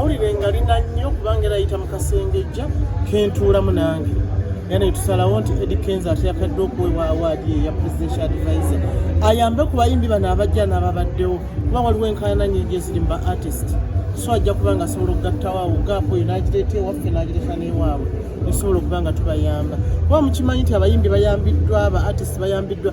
mawulire nga lina nnyo kubanga era yita mu kasengejja kentuulamu nange era netusalawo nti edi kenza ate yakadde okuweebwa awaadi eya presidential advise ayambe ku bayimbi bano abajja n'ababaddewo kuba waliwo enkaana nyingi eziri mu ba artist so ajja kuba nga asobola okugattawaawo gaapu oyo n'agireeta ewaffe n'agireeta n'ewaabwe esobola okuba nga tubayamba kuba mukimanyi nti abayimbi bayambiddwa aba artist bayambiddwa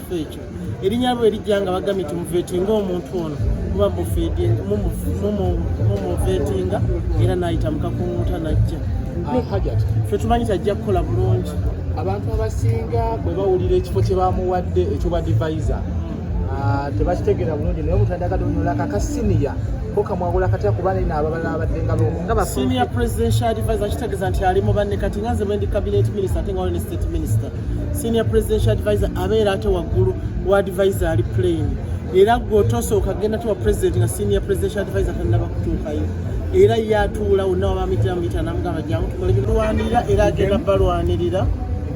kifo ekyo erinya lwe lijja nga bagamye nti muvetinga omuntu ono muba mumuvetinga era nayita mukakunguta najja ah, fe tumanyi tajja kukola bulungi abantu abasinga bwe bawulira ekifo kye bamuwadde ekyo ba divisa ah, tebakitegeera bulungi naye omuntu adagade onyola kakasiniya kokamwagula katya kuba naye naababala abadde nga bsenior presidential advisor kitegeeza nti ali mu banne kati nga nze bwendi cabinet minister ate nga wali ne state minister senior presidential advisor abeera ate waggulu wa advisor ali plain era gwotosooka genda tuwa president nga senior presidential advisor tanaba kutuukayo era yatuula wonna wabamitamita namugamba jangu tukolebalwanirira era agenda balwanirira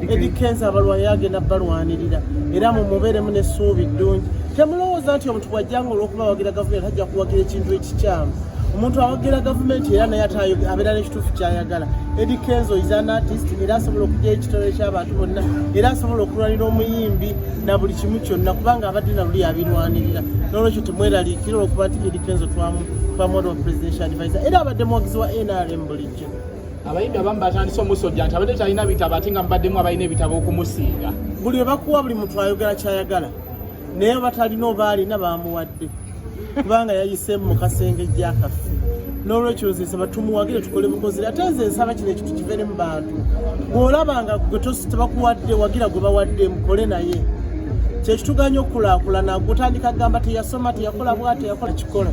edikenza abalwanira agenda balwanirira era mumubeeremu nesuubi ddungi temulowooza nti omuntu bwajjanga olwokuba wagira gavumenti ajja kuwagira ekintu ekikyamu omuntu awagira gavumenti era naye abeera nekituufu kyayagala edi kenzo is an artist era asobola okugyayo ekitole kyabantu bonna era asobola okulwanira omuyimbi na buli kimu kyonna kubanga abadde naluli abirwanirira nolwekyo temweraliikira olwokuba nti edi kenzo twamwodwa presidential advisor era abadde muwagizi wa nrm bulijjo abayimbi abamu batandise omusojja nti abadde talina bitabo ate nga mubaddemu abalina ebitabo okumusinga buli webakuwa buli muntu ayogera kyayagala naye batalina oba alina bamuwadde kubanga yayiseemu mu kasenge gyakaffe n'olwekyo nze nsaba tumuwagire tukole bukozi ate nze nsaba kino ekintu kivere mu bantu bw'olaba nga gwe tebakuwadde wagira gwe bawadde mukole naye kyekituganya okukulakulana gutandika kugamba teyasoma teyakola bwa teyakola kikola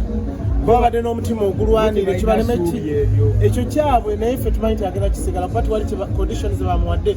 babadde n'omutima ogulwanira kibaleme ki ekyo kyabwe naye ffe tumanyi nti agenda kisigala kuba tiwali conditions bamuwadde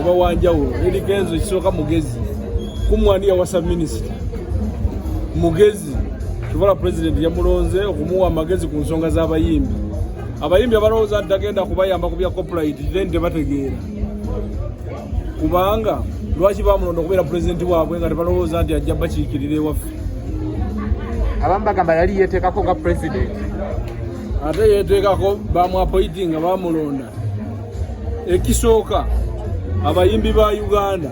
oba wanjawulo eri kenzo ekisooka mugezi kumwani yawasa minisita mugezi kivala pulezidenti yamulonze okumuwa amagezi ku nsonga z'abayimbi abayimbi abalowooza nti tagenda kubayamba ku bya copyright then tebategeera kubanga lwaki bamulonda okubeera pulezidenti waabwe nga tebalowooza nti ajja bakiikirira ewaffe abamu bagamba yali yeteekako nga pulezidenti ate yeteekako bamwapoitinga bamulonda ekisooka abayimbi ba uganda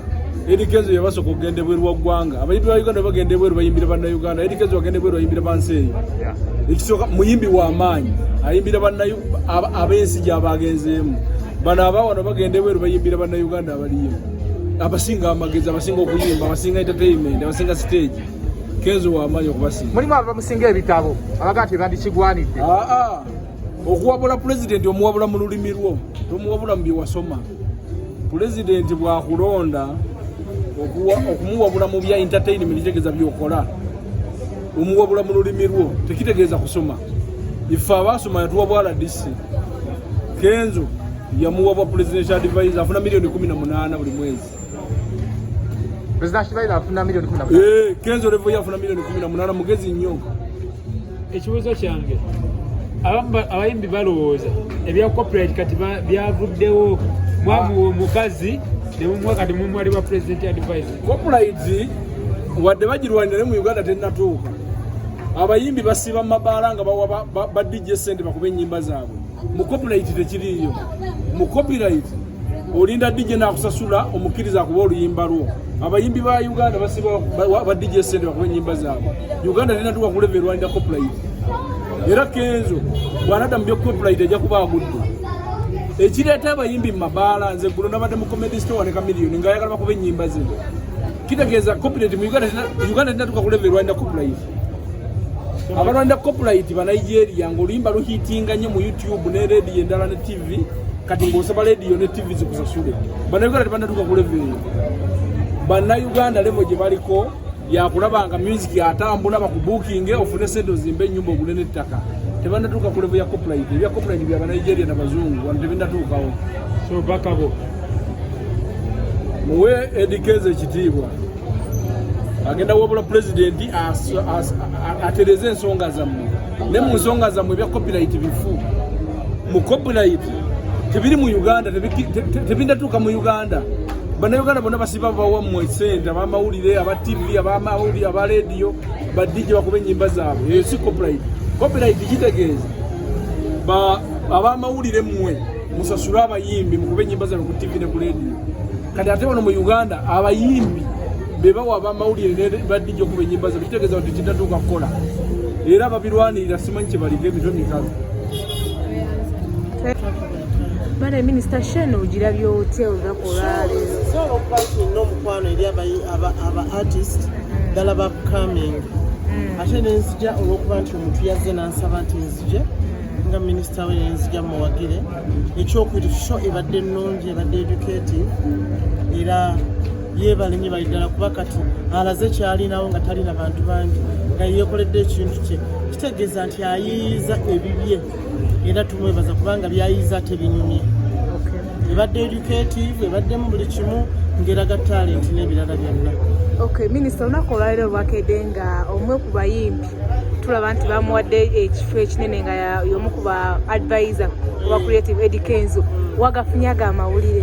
edikezo yebasooka okugenda ebweru wa ggwanga abayimbi ba uganda bagenda ebweru bayimbira bannauganda edikezo bagenda ebweru bayimbira bansi eyo ekisooka muyimbi wa maanyi ayimbira ab'ensi gyabagenzeemu bano abawano bagenda ebweru bayimbira bannauganda abaliyo abasinga amagezi abasinga okuyimba abasinga entertainment abasinga stage kenzo wamaanyi okubasinga mulimu abamusinga ebitabo abagaa tebandikigwanidde ah, ah. okuwabula pulezidenti omuwabula mu lulimi lwo tomuwabula mu byewasoma pulezidenti bwakulonda okumuwabula mu bya entertainment kitegeeza byokola omuwabula mu lulimi lwo tekitegeeza kusoma ife abaasoma yatuwabwa rdc kenzo yamuwabwa presidential advisor afuna miliyoni kumi na munaana buli mwezi Eh, kenzo levo yafuna milioni kumi na munana mugezi nnyo ekibuuzo kyange abayimbi balowooza ebya copyright kati byavuddewo mwamuwa omukazi nemumuwa kati mumwali wa president advice copyright wadde bagirwanire mu uganda tennatuuka abayimbi basiiba mumabaala nga bawa badijja esente bakuba ennyimba zaabwe mu copyright tekiriiyo mu copyright olinda DJ nakusasula omukiriza akuba oluyimba lwo abayimbi ba Uganda basiba ba DJ sente bakuba enyimba zaabwe Uganda tena tuwa kuleve Rwanda copyright era kenzo bwanada mu byo copyright ajja kuba agudde ekireeta abayimbi mu mabaala nze gulo nabadde mu comedy store ne kamiliyoni nga ayagala bakuba enyimba zino kitegeeza copyright mu Uganda Uganda tena tuwa kuleve Rwanda copyright abalwanda copyright ba Nigeria ngoluyimba luhitinga nyo mu YouTube ne radio endala ne TV kati ng'osaba lediyo ne tivi zikusasule bannayuganda tebannatuuka ku levo eyo bannayuganda levo gye baliko yakulaba nga music atambula bakubukinge ofune sente ozimba ennyumba ogule n'ettaka tebannatuuka ku levo ya copulite ebya copulite bya banigeria na bazungu wano tebinnatuukawo so bakabo muwe edikeza ekitiibwa agenda wabula pulezidenti atereze ensonga zammwe ne mu nsonga zammwe ebya copulite bifu mu copyright tebiri mu Uganda tebindatuuka mu Uganda bannayuganda bonna basiba bawa mu esente abamawulire aba tv abamawulire aba rediyo badijje bakuba ennyimba zaabwe eyo si copyright copyright kitegeeza abamawulire mmwe musasule abayimbi mukube ennyimba zaabwe ku tv ne ku rediyo kati ate wano mu uganda abayimbi bebawa abamawulire nebadijja okuba enyimba ze kitegeeza nti kitatuuka kukola era babirwanirira simanyi kyebaliko emitwe mikalu bana minisita shen ogirabye otya olunaku olwaleero omukwano eri aba artist ddala ba coming mm. ate nenzija olwokuba nti omuntu yazze nansaba nti nzije mm. nga minisita we nenzija muwagire ekyokubiri sho ebadde nnungi ebadde educative era yeebale nyo bali ddala kuba kati alaze kyalinawo nga talina bantu bangi nga yeekoledde ekintu kye kitegeeza nti ayiiyiza ebibye era tumwebaza kubanga byayiiza tebinyumye ebadde educative ebaddemu buli kimu ngeraga talenti n'ebirala byonna okay minisita olunaku olwaliro lwakedde nga omwe ku bayimbi tulaba nti bamuwadde ekifo ekinene nga yomu ku ba advisor oba creative edi kenzo wagafunye ago amawulire